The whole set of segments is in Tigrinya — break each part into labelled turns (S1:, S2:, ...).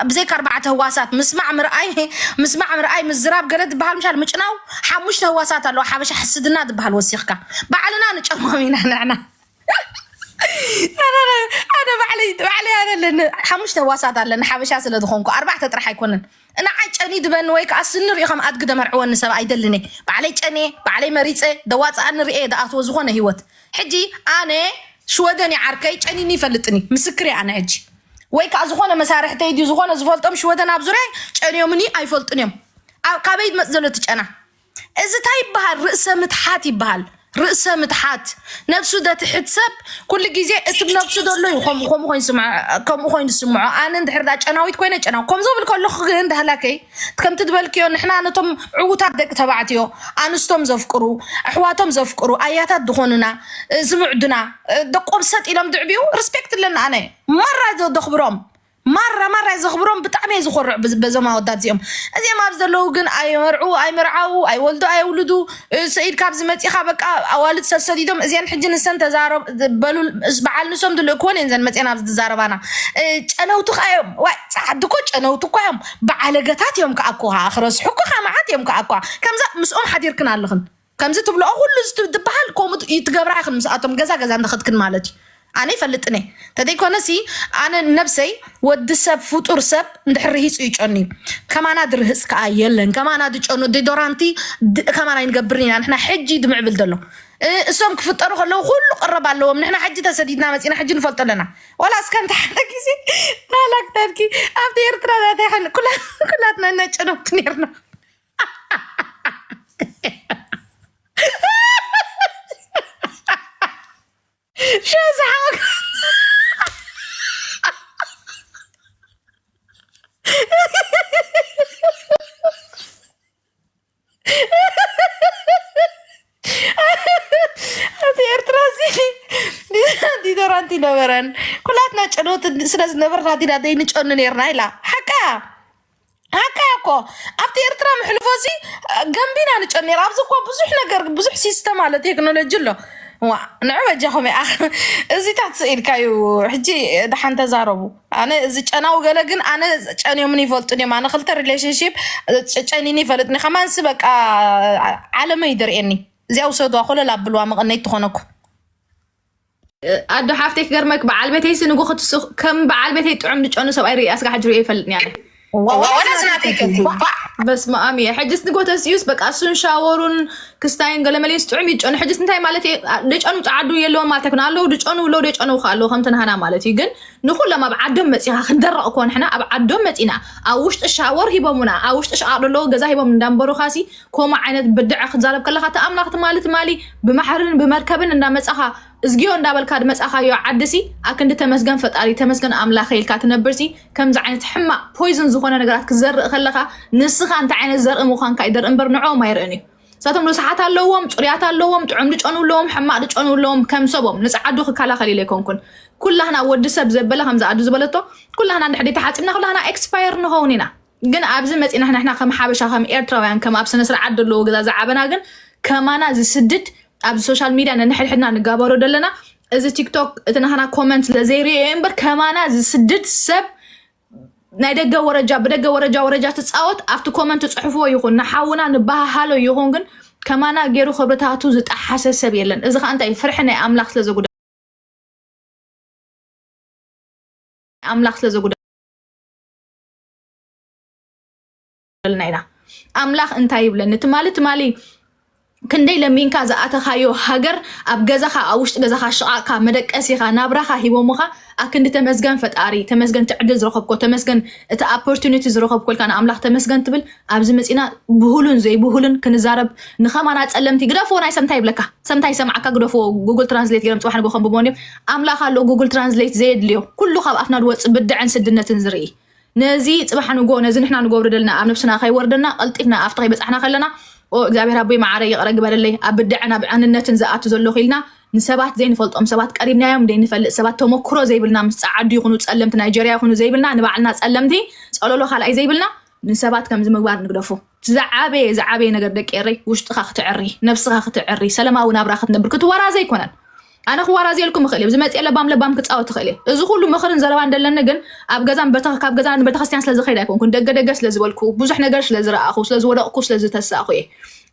S1: ብዘይካ ኣርባዕተ ህዋሳት ምስማዕ ምርኣይ ምስማዕ ምርኣይ ምዝራብ ገለ ዝበሃል ምሻል ምጭናው ሓሙሽተ ህዋሳት ኣለዋ ሓበሻ ሕስድና ዝበሃል ወሲኽካ ባዕልና ንጨሞም ኢና ንሕና ኣነ ባዕለይ ባዕለይ ኣነ ኣለኒ ሓሙሽተ ህዋሳት ኣለኒ ሓበሻ ስለ ዝኾንኩ ኣርባዕተ ጥራሕ ኣይኮነን ንዓይ ጨኒ ድበኒ ወይ ከዓ ስኒ ሪኦ ከም ኣድጊ ደመርዕወኒ ሰብ ኣይደልን እየ ባዕለይ ጨንየ ባዕለይ መሪፀ ደዋፅኣኒ ርኤ ደኣትዎ ዝኾነ ሂወት ሕጂ ኣነ ሽወደን እየ ዓርከይ ጨኒኒ ይፈልጥኒ ምስክር እየ ኣነ ሕጂ ወይ ከዓ ዝኾነ መሳርሕተይ ድዩ ዝኾነ ዝፈልጦም ሽወተን ኣብ ዙሪያ ጨንዮምኒ ኣይፈልጡን እዮም ኣብ ካበይ መፅ ዘሎ እቲ ጨና እዚ እንታይ ይበሃል ርእሰ ምትሓት ይበሃል ርእሰ ምትሓት ነብሱ ዘትሕት ሰብ ኩሉ ግዜ እቲ ነብሱ ዘሎ እዩ ከምኡ ኮይኑ ስምዖ ከምኡ ኮይኑ ስምዖ ኣነ እንድሕር ጨናዊት ኮይነ ጨናዊ ከም ዝብል ከለኹ ግን ዳህላከይ ከምቲ ዝበልክዮ ንሕና ነቶም ዕዉታት ደቂ ተባዕትዮ ኣንስቶም ዘፍቅሩ ኣሕዋቶም ዘፍቅሩ ኣያታት ዝኾኑና እ፣ ዝምዕዱና እ፣ ደቆም ሰጥ ኢሎም ድዕብዩ ሪስፔክት ኣለኒ ኣነ ማራ ዘ- ዘኽብሮም ማራ ማራ እየ ዘኽብሮም ብጣዕሚ እየ ዝኮርዕ ብዝ- በዞም ኣወዳት እዚኦም እዚኦም ኣብ ዘለዉ ግን ኣይመርዑ ኣይምርዓዉ ኣይወልዱ ኣየውልዱ እ፣ ሰኢድ ካብዚ መፂኻ በቃ ኣዋልድ ሰብ ሰዲዶም እዚአን ሕጂ ንሰን ተዛረብ በሉ እስ- በዓል ንሶም ዝልእክወን እየን ዘን መፅአን ኣብዚ ዝዛረባና እ፣ ጨነውቲ ኸ እዮም ዋይ ፃዓዲ እኮ ጨነውቲ እኳ እዮም ብዓለገታት እዮም ከዓ እኮ ከዓ ክረስሑ እኮ ከዓ መዓት እዮም ከዓ እኮ ከምዛ ምስኦም ሓዲርክን ኣለኽን ከምዚ ትብልኦ ኩሉ ዝትብሃል ከምኡ ት- ይትገብራ ኢኽን ምስኣቶም ገዛ ገዛ እንዳኸድክን ማለት እዩ ኣነ ይፈልጥን እየ ተዘይኮነሲ ኣነ ነብሰይ ወዲ ሰብ ፍጡር ሰብ እንድሕር ርሂፁ ይጨኑ እዩ ከማና ድርህፅ ከዓ የለን ከማና ድጨኑ ዲዶራንቲ ድ- ከማና ይንገብርን ኢና ንሕና ሕጂ ድምዕብል ዘሎ እ- እሶም ክፍጠሩ ከለዉ ኩሉ ቅረብ ኣለዎም ንሕና ሕጂ ተሰዲድና መፂና ሕጂ ንፈልጦ ኣለና ዋላ እስከ እንተ ሓደ ግዜ ናላክታድኪ ኣብቲ ኤርትራ ዛታ ይሓል ኩላትና ነጨነብቲ ነርና ሸዝሓቅ ኣብቲ ኤርትራ እዚ ዲዛንቲ ዶራንቲ ነበረን ኩላትና ጨለወቲ ስለ ዝነበርና ዲና ዘይንጨኑ ነርና ኢላ ሓቃ ሓቃ እኮ ኣብቲ ኤርትራ ምሕልፎ እዚ ገንቢና ንጨኑ ነር ኣብዚ እኮ ብዙሕ ነገር ብዙሕ ሲስተም ኣሎ ቴክኖሎጂ ኣሎ ንዑ በጃኹም እዚታት ስኢልካዩ ሕጂ ድሓን ተዛረቡ ኣነ እዚ ጨናዊ ገለ ግን ኣነ ጨንዮምን ይፈልጡን እዮም ኣነ ክልተ ሪሌሽንሽፕ ጨጨኒኒ ይፈልጥኒ ከማንሲ በቃ ዓለመ እዩ ደርእየኒ እዚኣ ውሰድዋ ኮለል ኣብልዋ መቐነይ ትኾነኩ ኣዶ ሓፍተይ ክገርመክ በዓል ቤተይሲ ንጎ ክትስኽ ከም በዓል ቤተይ ጥዑም ዝጨኑ ሰብኣይ ርእየ ኣስጋ ሕጂ ርእየ ይፈልጥኒ ኣነ በስመኣም እየ ሕጅስ ንጎተስዩስ በቃ እሱን ሻወሩን ክስታይን ገለመሌስ ጥዑም ይጨኑ ሕጅስ እንታይ ማለት ደጨኑ ፃዓዱ የለዎም ማለት ኣይኮነ ኣለዉ ድጨኑ ለው ደጨኑ ከ ኣለዉ ከምቲ ናሃና ማለት እዩ ግን ንኩሎም ኣብ ዓዶም መፂኻ ክንደረቕ እኮ ንሕና ኣብ ዓዶም መፂና ኣብ ውሽጢ ሻወር ሂቦሙና ኣብ ውሽጢ ሸቃቅ ደለዎ ገዛ ሂቦም እንዳንበሩኻሲ ኮማ ዓይነት ብድዐ ክትዛረብ ከለካ እቲ ኣምላኽ ትማሊ ትማሊ ብማሕርን ብመርከብን እንዳመፃኻ እዝጊዮ እንዳበልካ ድመፃኻዮ ዓድሲ ኣክንዲ ተመስገን ፈጣሪ ተመስገን ኣምላኸ ኢልካ ትነብርሲ ከምዚ ዓይነት ሕማቅ ፖይዝን ዝኾነ ነገራት ክትዘርእ ከለኻ ንስኻ እንታይ ዓይነት ዘርኢ ምዃንካ ይደርኢ እምበር ንዕኦም ኣይርእን እዩ እሳቶም ርስሓት ኣለዎም ፅሩያት ኣለዎም ጥዑም ድጨኑ ኣለዎም ሕማቅ ድጨኑ ኣለዎም ከም ሰቦም ንፃዓዱ ክከላኸል ኢለ ኣይኮንኩን ኩላህና ወዲ ሰብ ዘበለ ከምዚ ኣዱ ዝበለቶ ኩላህና እንድሕር ተሓፂብና ኩላህና ኤክስፓየር ንኸውን ኢና ግን ኣብዚ መፂና ንሕና ከም ሓበሻ ከም ኤርትራውያን ከም ኣብ ስነስርዓት ዘለዎ ገዛ ዝዓበና ግን ከማና ዝስድድ ኣብዚ ሶሻል ሚድያ ነንሕድሕድና ንጋበሮ ዘለና እዚ ቲክቶክ እቲ ናህና ኮመንት ስለዘይርእዮ እየ እምበር ከማና ዝስድድ ሰብ ናይ ደገ ወረጃ ብደገ ወረጃ ወረጃ ትፃወት ኣብቲ ኮመንት ፅሑፍዎ ይኹን ንሓውና ንበሃሃሎ ይኹን ግን ከማና ገይሩ ክብርታቱ ዝጠሓሰ ሰብ የለን እዚ ከዓ እንታይ እዩ ፍርሒ ናይ ኣምላኽ ስለዘጉዳ ኣምላኽ ስለዘጉዳ ይብለልና ኢና ኣምላኽ እንታይ ይብለኒ ትማሊ ትማሊ ክንደይ ለሚንካ ዝኣተኻዮ ሃገር ኣብ ገዛኻ ኣብ ውሽጢ ገዛኻ ሽቓቕካ መደቀሲኻ ናብራኻ ሂቦምኻ ኣክንዲ ተመስገን ፈጣሪ ተመስገን ትዕድል ዝረኸብኮ ተመስገን እቲ ኦፖርቱኒቲ ዝረኸብኮ ኢልካ ንኣምላኽ ተመስገን ትብል ኣብዚ መፂና ብሁሉን ዘይብሁሉን ክንዛረብ ንኸማና ፀለምቲ ግደፍዎ ናይ ሰምታይ ይብለካ ሰምታይ ሰምዓካ ግደፍዎ ጉግል ትራንስሌት ገይሮም ፅባሕ ንጎ ከንብቦን እዮም ኣምላኽ ኣሎ ጉግል ትራንስሌት ዘየድልዮ ኩሉ ካብ ኣፍና ዝወፅእ ብድዐን ስድነትን ዝርኢ ነዚ ፅባሕ ንጎ ነዚ ንሕና ንገብሮ ደልና ኣብ ነብስና ከይወርደና ቀልጢፍና ኣብቲ ከይበፃሕና ከለና እግዚኣብሔር ኣቦይ መዓረ ይቕረ ግበረለይ ኣብ ብድዐን ኣብ ዕንነትን ዝኣቱ ዘለኹ ኢልና ንሰባት ዘይንፈልጦም ሰባት ቀሪብናዮም ዘይንፈልጥ ሰባት ተመክሮ ዘይብልና ምስ ፀዓዱ ይኹኑ ፀለምቲ ናይጀርያ ይኹኑ ዘይብልና ንባዕልና ፀለምቲ ፀለሎ ካልኣይ ዘይብልና ንሰባት ከምዚ ምግባር ንግደፉ ዝዓበየ ዝዓበየ ነገር ደቂ ኤረይ ውሽጥኻ ክትዕሪ ነብስኻ ክትዕሪ ሰለማዊ ናብራ ክትነብር ክትወራዘ ኣይኮነን ኣነ
S2: ክዋራዘየልኩም እኽእል እየ ዝመፅኤ ለባም ለባም ክፃወት እኽእል እየ እዚ ኩሉ ምኽርን ዘረባን ደለኒ ግን ኣብ ገዛን ካብ ገዛን ቤተክርስትያን ስለዝኸይድ ኣይኮንኩን ደገ ደገ ስለዝበልኩ ብዙሕ ነገር ስለዝረኣኹ ስለዝወደቕኩ ስለዝተሳእኹ እየ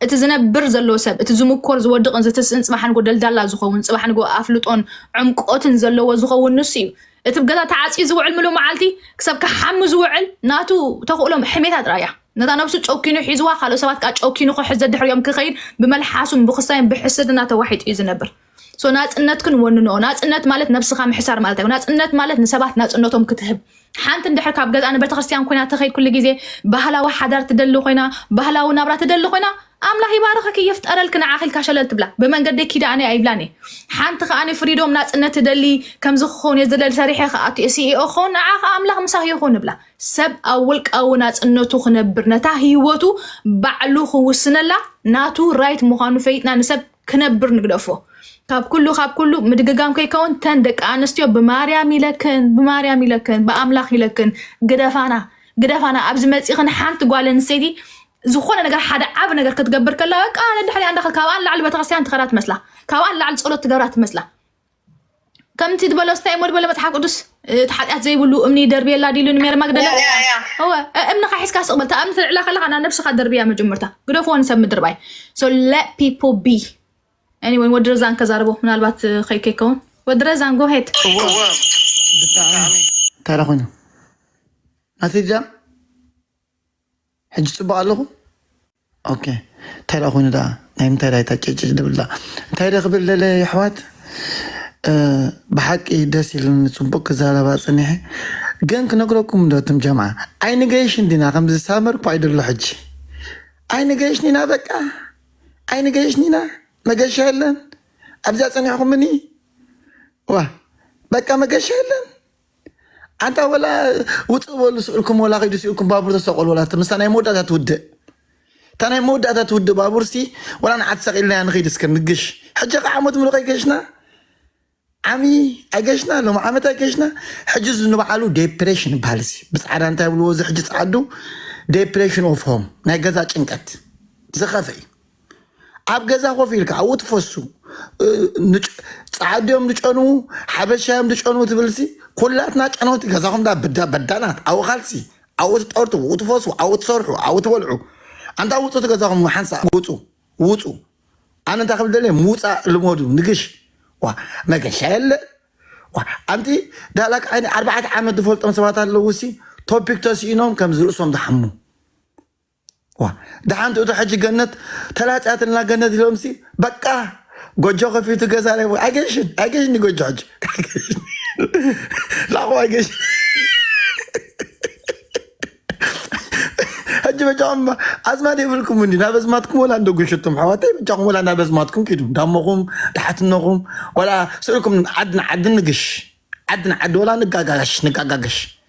S2: እቲ ዝነብር ዘሎ ሰብ እቲ ዝምኮር ዝወድቕን ዝትስእን ፅባሕ ንጎ ደልዳላ ዝኸውን ፅባሕ ንጎ ኣፍልጦን ዕምቆትን ዘለዎ ዝኸውን ንሱ እዩ እቲ ገዛ ተዓፅዩ ዝውዕል ምሉ መዓልቲ ክሰብ ክሓሚ ዝውዕል ናቱ ተኽእሎም ሕሜታ ጥራያ ነታ ነብሱ ጨኪኑ ሒዝዋ ካልኦት ሰባት ከዓ ጨኪኑ ክሕዝ ዘድሕርዮም ክኸይድ ብመልሓሱን ብክሳይን ብሕስድና ተዋሒጡ እዩ ዝነብር ሶ ናፅነትክን ወንንኦ ናፅነት ማለት ነብስኻ ምሕሳር ማለት ኣይኮ ናፅነት ማለት ንሰባት ናፅነቶም ክትህብ ሓንቲ እንድሕር ካብ ገዛ ንቤተ ክርስቲያን ኮይና ተኸይድ ኩሉ ግዜ ባህላዊ ሓዳር ትደሊ ኮይና ባህላዊ ናብራ ትደሊ ኮይና ኣምላኽ ይባርኽኪ ይፍጠረልኪ ንዓኺ ኢልካ ሸለል ትብላ ብመንገደይ ኪዳ ኣነ ኣይብላን እየ ሓንቲ ከዓ ፍሪዶም ናፅነት ትደሊ ከምዚ ክኸውን እየ ዝደሊ ሰሪሐ ክኣቱ እየ ሲኢኦ ክኸውን ንዓ ከዓ ኣምላኽ ምሳኺ ይኹን ንብላ ሰብ ኣብ ውልቃዊ ናጽነቱ ክነብር ነታ ህይወቱ ባዕሉ ክውስነላ ናቱ ራይት ምዃኑ ፈይጥና ንሰብ ክነብር ንግደፎ። ካብ ኩሉ ካብ ኩሉ ምድግጋም ከይከውን ተን ደቂ ኣንስትዮ ብማርያም ይለክን ብማርያም ይለክን ብኣምላኽ ይለክን ግደፋና ግደፋና ኣብዚ መጺኽን ሓንቲ ጓል ኣንስተይቲ ዝኾነ ነገር ሓደ ዓብ ነገር ክትገብር ከላ በቃ ነድሕሪያ እንዳኸ ካብኣ ንላዕሊ ቤተክርስትያን ትኸዳ ትመስላ ካብኣ ንላዕሊ ጸሎት ትገብራ ትመስላ ከምቲ ዝበሎ ስታይ እሞ ዝበለ መፅሓፍ ቅዱስ እቲ ሓጢኣት ዘይብሉ እምኒ ደርብየላ ዲሉ ንሜሪ ማግደላ ያ ያ ያ እወ እ- እምንኻ ሒዝካ ስቕ በል እታ እምኒ ተልዕላ ከለኻ ናብ ነብስኻ ደርብያ መጀመርታ ግደፍዎ ንሰብ ምድር ባይ ሶ ለት ፒፖ ቢ ኤኒወይ ወዲ ረዛን ከዛርቦ ምናልባት እ፣ ከይ ከይከውን ወዲ ረዛን ጎሄድ እወ ብጣዕሚ
S3: እንታይ ደኣ ኮይኑ ናተይ እዚኣ ሕጂ ጽቡቅ ኣለኹ ኦኬ እንታይ ደኣ ኮይኑ ደኣ ናይ ምንታይ ደኣ እታ ጭጭ ድብል ደኣ እንታይ ደ ክብል ደለ የሕዋት ብሓቂ ደስ ኢሉኒ ጽቡቅ ክዛረብ ኣጸኒሐ ግን ክነግረኩም ዶ ትም ጀምዓ ኣይንገይሽን ዲና ከምዚ ሳመር እኳ ይደሎ ሕጂ ኣይንገይሽን ኢና በቃ ኣይንገይሽን ኢና መገሻ የለን ኣብዚ ኣጸኒሕኩምኒ ዋ በቃ መገሻ የለን ኣንታ ወላ ውፅእ በሉ ስእልኩም ወላ ኪዱ ስእልኩም ባቡር ተሰቀሉ ወላ ምስታ ናይ መወዳእታ ትውድእ እታ ናይ መወዳእታ ትውድእ ባቡርሲ ወላ ንዓት ሰቂልናያ ንኺድ እስከ ንግሽ ሕጂ ከ ዓመት ሙሉእ ከይገሽና ዓሚ ኣይገሽና ሎም ዓመት ኣይገሽና ሕጂ እዚ ንባዕሉ ዴፕሬሽን ይበሃል እዚ ብፃዕዳ እንታይ ብልዎ እዚ ሕጂ ፀዓዱ ዴፕሬሽን ኦፍ ሆም ናይ ገዛ ጭንቀት ዝኸፈ እዩ ኣብ ገዛ ኮፍ ኢልካ ኣብኡ ትፈሱ ፃዓዱዮም ዝጨንዉ ሓበሻዮም ዝጨንዉ ትብልሲ ኩላትና ጨነውቲ ገዛኹም ዳ ብዳ በዳናት ኣብኡ ካልሲ ኣብኡ ትጠርቱ ኣብኡ ትፈሱ ኣብኡ ትሰርሑ ኣብኡ ትበልዑ ኣንታ ውፁ እቲ ገዛኹም ሓንሳ ውፁ ውፁ ኣነ እንታይ ክብል ደለየ ምውፃእ ልመዱ ንግሽ ዋ መገሻ የለ ዋ ኣንቲ ዳላክ ዓይኒ ኣርባዕተ ዓመት ዝፈልጦም ሰባት ኣለውሲ ቶፒክ ተስኢኖም ከምዚ ርእሶም ዝሓሙ ዋእ ደሓን ትእቶ ሕጂ ገነት ተላጽያትልና ገነት ኢሎምሲ በቃ ጎጆ ከፊቱ ገዛ ረኪቡ ኣይገሽን ኣይገሽን እዩ ጎጆ ሕጂ ኣይገሽን ላኹ ኣይገሽን ሕጂ በጃኹም እባ ኣዝማድ የብልኩም እንዲ ናብ ኣዝማድኩም ወላ እንዶ ጉሽቱም ኣሕዋተይ በጃኹም ወላ ናብ ኣዝማድኩም ኪዱ እንዳሞኹም ዳሓትነኹም ወላ ስእልኩም ዓዲ ንዓዲ ንግሽ ዓዲ ንዓዲ ወላ ንጋጋሽ ንጋጋሽ